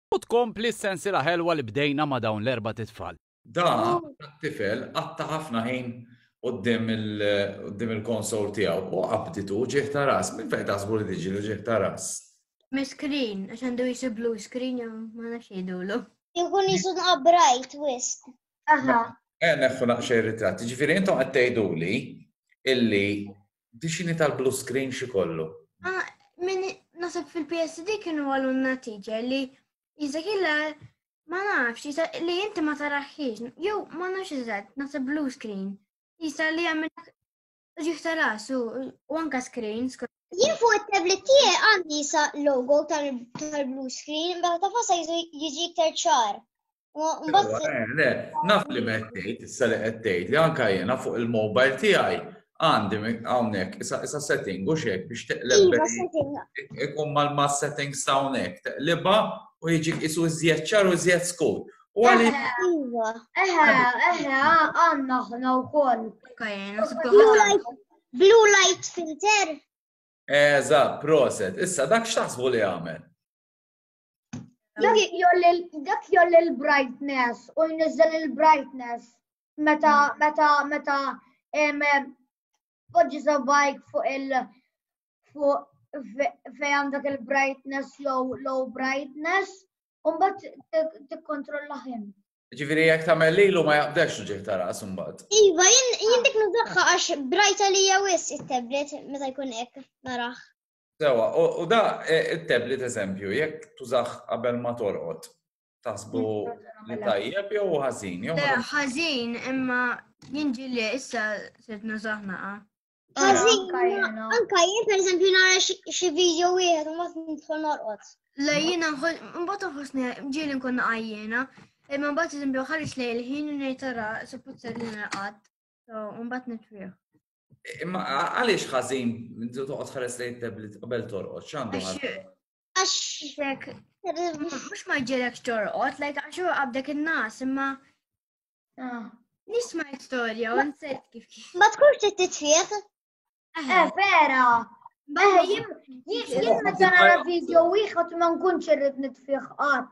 U tkompli s-sensiela ħelwa li bdejna ma' dawn l-erbat itfal. Dan it-tifel qatta' ħafna ħin quddiem il-konsol tiegħu u qabditu uġigħ ta' ras. Minn fejn taħsbu li tiġi l-uġigħ ta' ras? Mis-screen, għax għandu qisu blue screen jew ma nafx jgħidulu. Jkun qisu nqab bright wisq. Aha. Eh, neħħu naqxej ritratti. Ġifieri intom qed tgħiduli illi Dixini tal-blue screen xi kollu. Ah, min nasab fil-PSD kienu għalunna teacher li jizak illa ma nafx, li jinti ma taraħħiex, jew ma nafx jizak, nasab blue screen. Jisa li għamil ġiħ tal-asu, u anka screen, Jien fuq it-tablet tiegħi għandi sa logo tal-blue screen, bħal ta' fasa jiġi iktar ċar. Naf li meħtejt, issa li għettejt, li għanka jena fuq il-mobile tijaj, għandi għawnek, issa setting u xek biex teqleb. Iva, ikun mal-ma setting sawnek, teqleba u jġi isu zjeċċar u zjeċ skur. U għalli. Iva. Eħe, eħe, għanna ħna u koll. Blue light filter. Eżat, proset. Issa dak xtaħsbu li għamel? Dak jolli l-brightness u jniżżel il-brightness meta mm. meta meta poġġi sabbajk fuq il fuq fej għandek il-brightness low low brightness u mbagħad tikkontrolla ħin. Ġifieri jekk tagħmel lilu ma jaqdex ġih ta' ras imbagħad. Iva, jien dik nużaħħa għax brajta li wis it-tablet meta jkun hekk naraħ. Sewa, u da it-tablet eżempju, jekk tużax qabel ma torqod, taħsbu li tajjeb jew ħażin jew. Eh, ħażin imma jinġi li issa sirt nużaħna. Ah. Ħażin, anka jien pereżempju nara xi video wieħed u ma nidħol norqod. Le jiena mbagħad nħossni ġieli nkun qajjiena, imma mbagħad eżempju ħares lejl ħin u ngħid tara suppost li naqgħad, u mbagħad nitfih. Imma għaliex ħażin inti toqgħod ħares lejn tablet qabel torqod x'għandu ħażin? Għax mhux ma ġielek torqod, lajk għax huwa qabdek in-nas imma ah. nisma' storja u nsejt kif kif. Ma tkunx trid titfieħ. Eh, eh vera. Eh, jien meta nara video wieħed ma nkunx irrid nitfieħ qatt.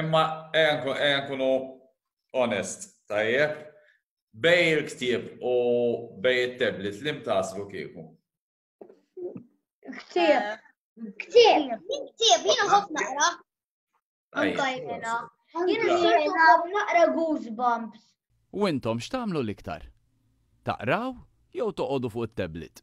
Imma enkunu onest, tajjeb, bej il-ktib u bej il-tablet li mtaslu kieku. Ktib. Ktib. Ktib, jina ħof naqra. Anka jena. Jina s-soltu ħof naqra goosebumps. U intom xtamlu l-iktar? Taqraw jew toqodu fuq il-tablet?